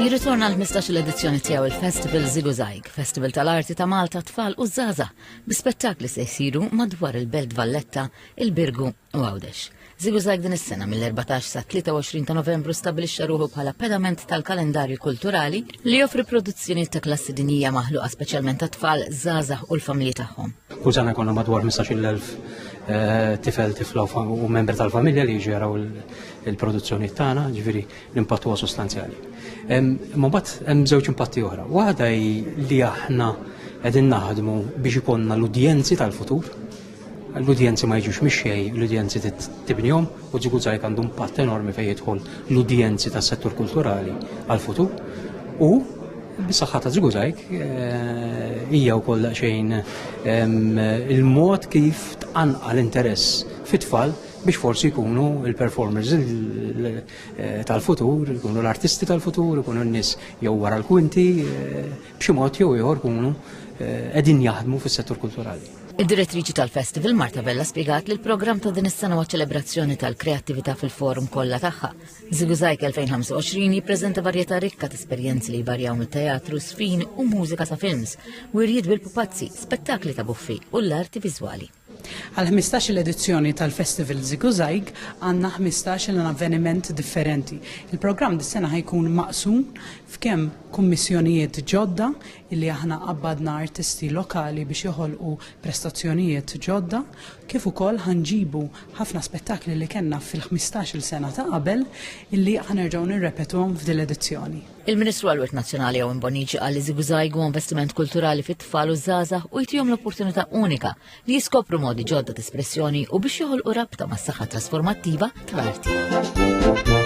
Jirritorna l-15 l-edizzjoni tiegħu il-Festival Ziguzajg, Festival tal-Arti ta' Malta tfal u Zaza, bi spettakli se jsiru madwar il-Belt Valletta, il-Birgu u Għawdex. Ziguzajg din is-sena mill-14 sa 23 ta' Novembru stabilixxa ruħu bħala pedament tal-kalendarju kulturali li joffri produzzjoni ta' klassi dinija maħluqa speċjalment ta' tfal, Zaza u l-familji tagħhom. U sena konna madwar 15,000 eh, tifel tifla u membri tal-familja li jġeraw il-produzzjoni tagħna, ġifieri l-impatt huwa sostanzjali. Ma mbagħad hemm żewġ impatti oħra. Waħda hi li aħna qegħdin naħdmu biex ikonna l-udjenzi tal-futur. L-udjenzi ma jiġux mixxej, l-udjenzi tibnihom u ġigu żgħir għandu impatt enormi fejn jidħol l-udjenzi tas-settur kulturali għal-futur. U bis-saħħa ta' ġigu żgħir eh, hija wkoll xejn il-mod kif tqanqal interess fit-tfal biex forsi jkunu il-performers tal-futur, jkunu l-artisti tal-futur, jkunu n-nis jew wara l-kwinti, eh, b'xi mod jew ieħor jkunu eh, qegħdin jaħdmu fis-settur kulturali. Id-direttriċi tal-festival Marta Vella spiegat li l-programm ta' din is-sena huwa ċelebrazzjoni tal-kreattività fil-forum kollha tagħha. Ziguzajk 2025 jippreżenta varjetà rikka ta' esperjenzi li jvarjaw mit-teatru, sfin u mużika sa' films, wirjiet bil-pupazzi, spettakli ta' buffi u l-arti viżwali. Għall-ħmistax-il edizzjoni tal-Festival Ziguzajg għandna ħmistax-il avveniment differenti. Il-programm dis-sena ħa jkun maqsum f'kemm kummissjonijiet ġodda illi aħna qabbadna artisti lokali biex joħolqu prestazzjonijiet ġodda kif ukoll ħa nġibu ħafna spettakli li kellna fil-ħmistax-il sena ta' qabel illi ħa nerġgħu nirrepetuhom f'dil-edizzjoni. Il-Ministru għal-Wirt Nazzjonali Owen Bonici għal iżigżajg u investiment kulturali fit-tfal u żgħażagħ u jtihom l-opportunità unika li jiskopru modi ġodda ta' espressjoni u biex joħolqu rabta mas-saħħa trasformattiva tal-arti.